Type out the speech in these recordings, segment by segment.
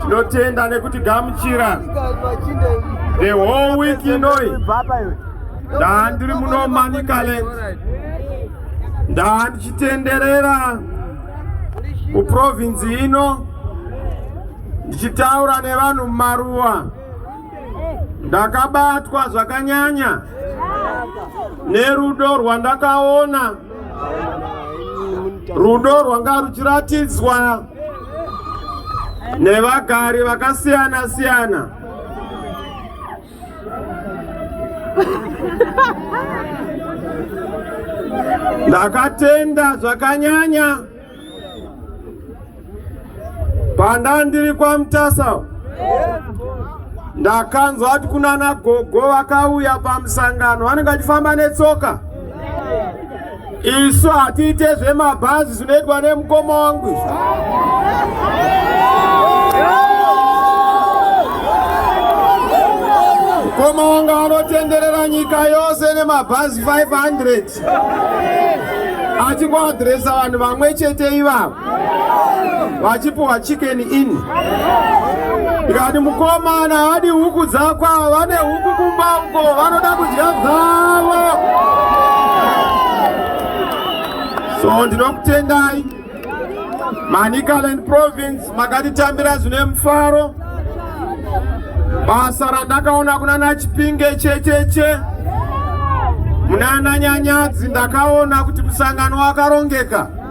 tinotenda nekuti gamuchira the whole week inoi ndaa ndiri muno manicaland ndaa ndichitenderera muprovinzi ino ndichitaura nevanhu mumaruwa ndakabatwa zvakanyanya nerudo rwandakaona rudo rwanga ruchiratidzwa nevagari vakasiyana siyana ndakatenda zvakanyanya panda ndiri kwamutasa ndakanzwa kuti kunana gogo vakauya pamusangano vanenge vachifamba netsoka Isu hatiite zvemabhazi zvinoitwa nemukoma wangu izvo. Mukoma wangu anotenderera nyika yose nemabhazi 500 achikuadhiresa vanhu vamwe chete ivavo. vachipuwa chicken in ndikati mukomana haadi huku dzako ava vane huku kumba uko vanoda kudya dzavo so ndinokutendai manicaland province makatitambira zvine mufaro basa randakaona kuna nachipinge checheche munana nyanyadzi ndakaona kuti musangano wakarongeka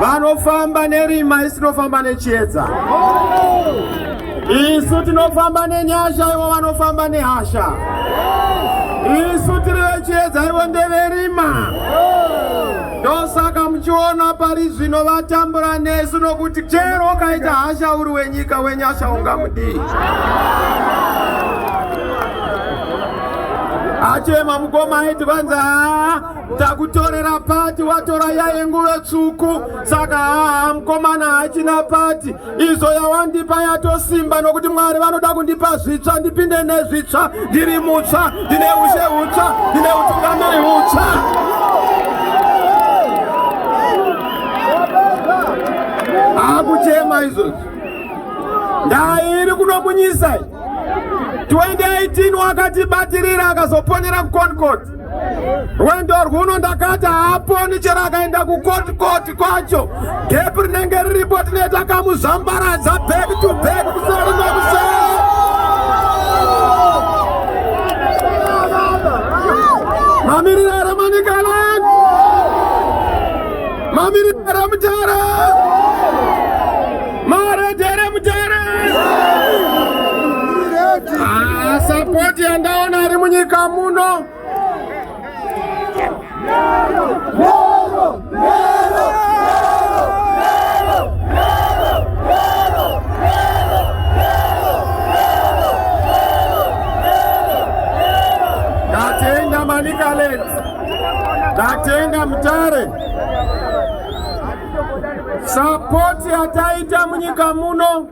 vanofamba nerima isu tinofamba nechiedza isu tinofamba nenyasha ivo vanofamba nehasha isu tiri vechiedza ivo ndeverima ndosaka muchiona pari zvino vatambura nesu nokuti chero ukaita hasha uri wenyika wenyasha ungamudii achema mukoma aiti kwanza takutorera pati watora yaye nguve tsvuku saka haa mukomana hachina pati izvo yawandipa yatosimba nokuti mwari vanoda kundipa zvitsva ndipinde nezvitsva ndiri mutsva ndine ushe hutsva ndine utungamiri hutsva akuchema izvozvo ndairi kunokunyisai 2018 wakatibatirira akazoponera kuconcord rwendo rwuno ndakati haaponi chero akaenda kukotikoti kwacho gepi rinenge riripo tine takamuzvambaradza back to back kuseri nekuseri mamiriro here manikalan mamiriro here mutara Mara jere mujere. Ah, support yandaona ari munyika muno. Nero, nero, nero. Manikale, Datenga Mtare. Sapoti yataita munyika muno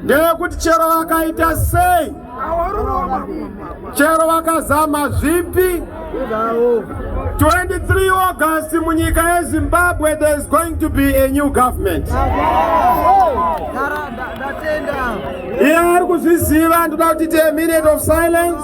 ndeyekuti chero vakaita sei, chero vakazama zvipi 23 August munyika yeZimbabwe there is going to be a new government. Iye ari kuzviziva ndoda kuti a minute of silence.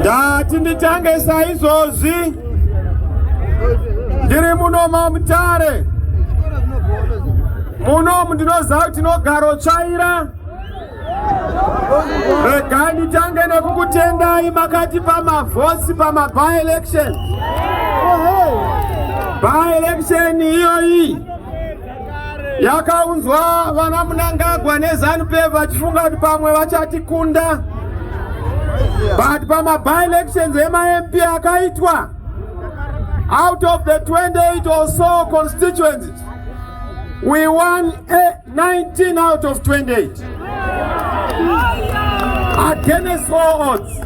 ndati nditange saizvozvi ndiri muno mamutare munomu ndinoziva kuti tinogaro tsvaira rega nditange nekukutendai makati pamavhosi pamaby election by election iyoyi yakaunzwa vana Munangagwa nezanu PF vachifunga kuti pamwe vachatikunda but pama by elections emaMP akaitwa out of the 28 or so constituencies we won 19 out of 28 against all odds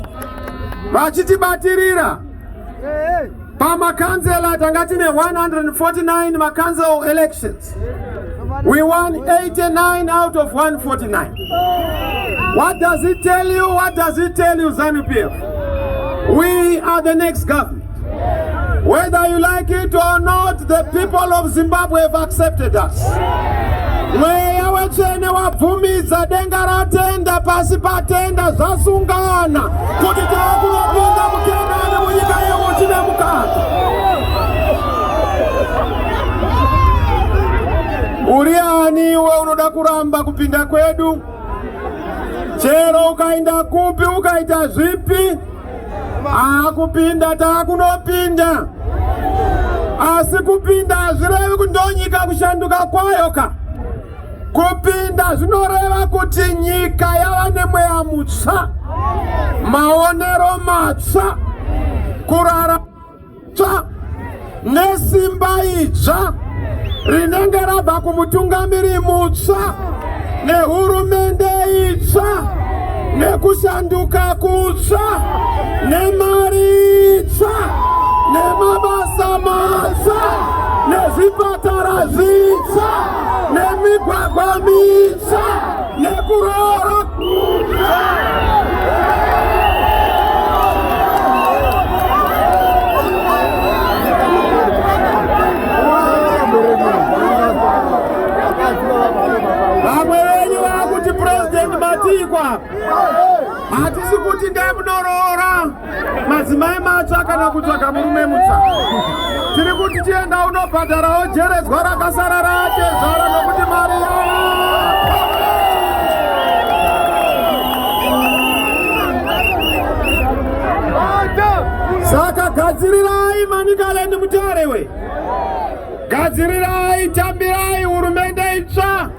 vachitibatirira pamakanzela tanga tine 149 makanzel elections we won 89 out of 149 what does it tell you what does it tell you zanupf we are the next government whether you like it or not the people of zimbabwe have accepted us mweya wetsvene wabvumidza denga ratenda pasi patenda zvasungana kuti takunopinda mukenani munyika yehuchi nemukati uri ani iwe unoda kuramba kupinda kwedu chero ukainda kupi ukaita zvipi akupinda takunopinda asi kupinda hazvirevi kundonyika kushanduka kwayo ka Kupinda zvinoreva kuti nyika yava nemweya mutsva, maonero matsva, kurara tsva nesimba idzva rinenge rabva kumutungamiri mutsva nehurumende itsva nekushanduka kutsva nemari itsva nemabasa matsva nezvipatara zvitsva. nemigwagwa mitsva yekuroora vamwe venyu vakuti president matikwa hatisi kuti ndemunoroora madzimai matsva kana kutsvaga murume mutsva tiri kuti chienda unobhadharawo jeredzwa rakasara ratezvara nokuti mari saka gadzirirai manikaleni mutarewe gadzirirai tambirai hurumende itsva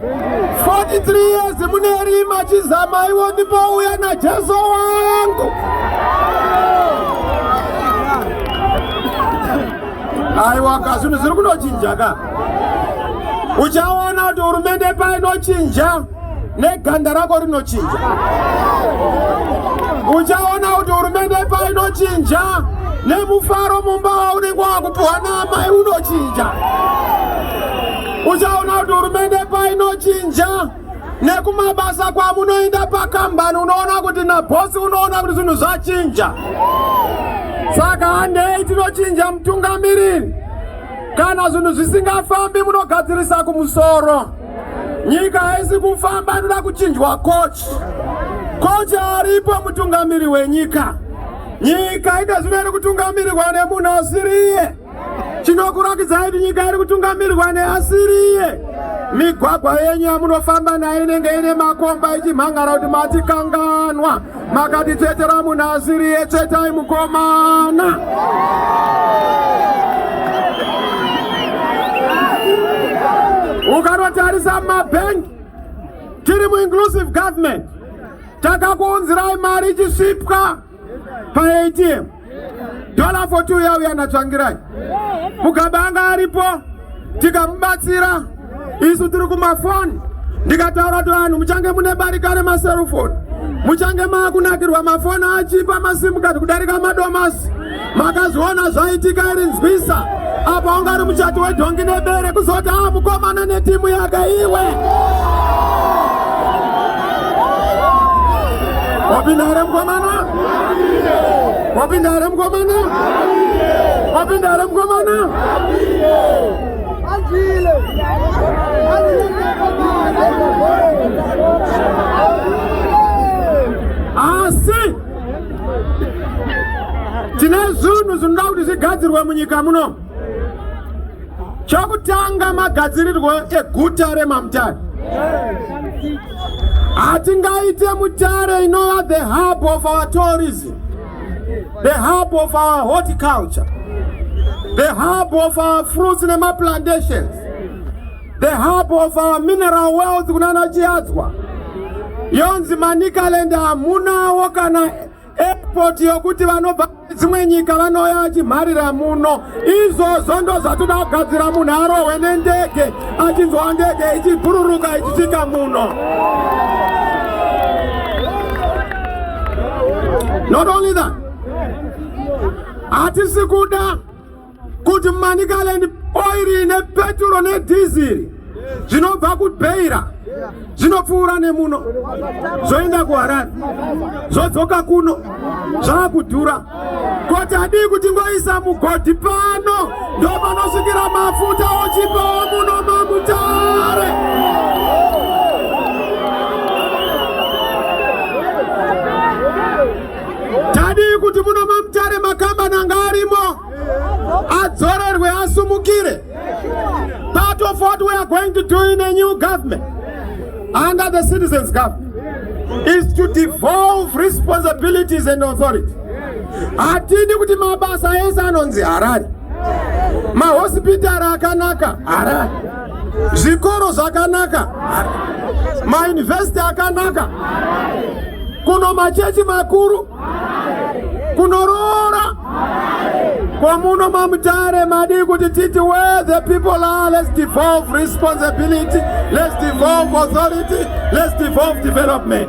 43 years mune rima chizama iwo ndipo uya na Jesu wangu Aiwa ka zvinhu zviri kunochinja ka Uchaona kuti hurumende painochinja neganda rako rinochinja Uchaona kuti hurumende painochinja nemufaro mumba waunenge wakupuhwa naamai unochinja uchaona kuti hurumende painochinja nekumabasa kwamunoenda pakambani unoona kuti nabhosi unoona kuti zvinhu zvachinja saka handei tinochinja mutungamiriri kana zvinhu zvisingafambi munogadzirisa kumusoro nyika haisi kufamba inoda kuchinjwa kochi kochi aripo mutungamiri wenyika nyika ine zvino iri kutungamirirwa nemunhu asiriye chinokurakidza kuti nyika iri kutungamirwa neasiriye migwagwa yenyu yamunofamba nayo inenge ine makomba ichimhan'ara kuti matikanganwa makatitsvetera munhu asiriye tsvetai mukomana ukanotarisa mabhengi tiri muinclusive government takakuunzirai mari ichisvipwa paATM dollar for two yauya natsvangirai mugabe anga aripo tikamubatsira isu tiri kumafoni ndikataura kuti vanhu muchange mune barika remaserufoni muchange maakunakirwa mafoni achipa masimukati kudarika madomasi makazviona zvaitika iri nzwisa apa wanga ari muchati wedhongi nebere kuzoti aa ah, mukomana netimu yake iwe wapinda here mukomana wapinda here mukomana wapinda here mukomana asi tine zvinhu zvinoda kuti zvigadzirwe munyika muno chokutanga magadzirirwo eguta remamutare hatingaite mutare inova the hub of our tourism the hub of our horticulture the hub of our fruits nemaplantations the hub of our mineral wealth kunana Chiadzwa yonzi Manicaland hamunawo kana airport yokuti vanobva dzimwe nyika vanouya achimharira muno. Izvozvo ndo zvatoda kugadzira munhu arohwe nendege achinzwa ndege ichibhururuka ichisvika muno. Not only that, hatisi kuda kuti Manicaland oiri nepeturo nedhiziri zvinobva kubeira zvinopfuura nemuno zvoenda kuharare zvodzoka kuno zvava kudhura koti adii kuti ngoisa mugodhi pano ndopanosvikira mafuta ochipawo muno mamutare Tadii kuti muno maMutare makambani anga arimo adzorerwe asumukire. Part of what we are going to do in a new government under the citizens government is to devolve responsibilities and authority. Hatidi kuti mabasa ese anonzi Harare, mahospitari akanaka Harare zvikoro zvakanaka mayunivhesiti akanaka kuno machechi makuru kunoroora kwamuno mamutare madii kuti titi where the people are let's devolve responsibility let's devolve authority let's devolve development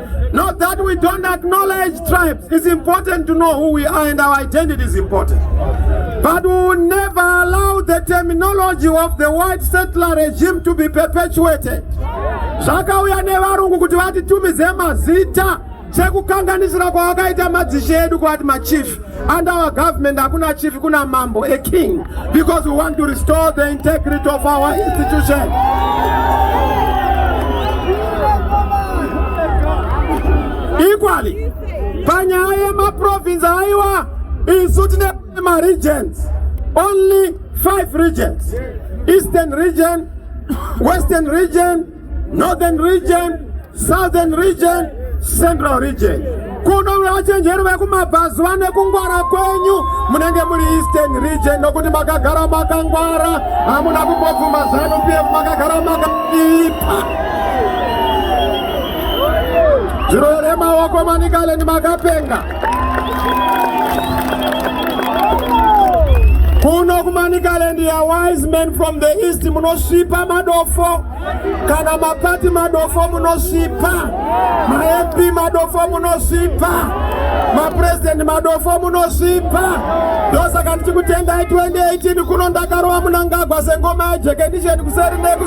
Not that we don't acknowledge tribes. It's important to know who we are and our identity is important. But we will never allow the terminology of the white settler regime to be perpetuated. Zvakauya nevarungu kuti vatitumidze mazita sekukanganisira kwavakaita madzishe edu kwavati machief And our government hakuna chief kuna mambo a king because we want to restore the integrity of our institution. Equally, panyaya yemaprovince aiwa isu tine maregions only five regions eastern region western region Northern region, Southern region, Central region. Kuno vachenjeri vekumabvazuva nekungwara kwenyu munenge muri Eastern region nokuti makagara makangwara hamuna kumbobvuma zanu PF makagara makaipa. Zviro here maoko manikalendi makapenga. kuno kumanikaland ya wise men from the east munosvipa madofo kana mapati madofo munosvipa map madofo munosvipa mapurezidendi madofo munosvipa ndosaka ndichikutengai 2018 kuno ndakarova munangagwa sengoma yejekendisheni kuseri neku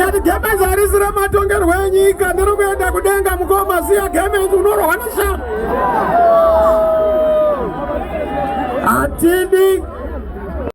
Yati gemenzi harisi rematongerwo enyika ndiri kuenda kudenga mukoma siya gemenzi unorohwa neshama. Atindi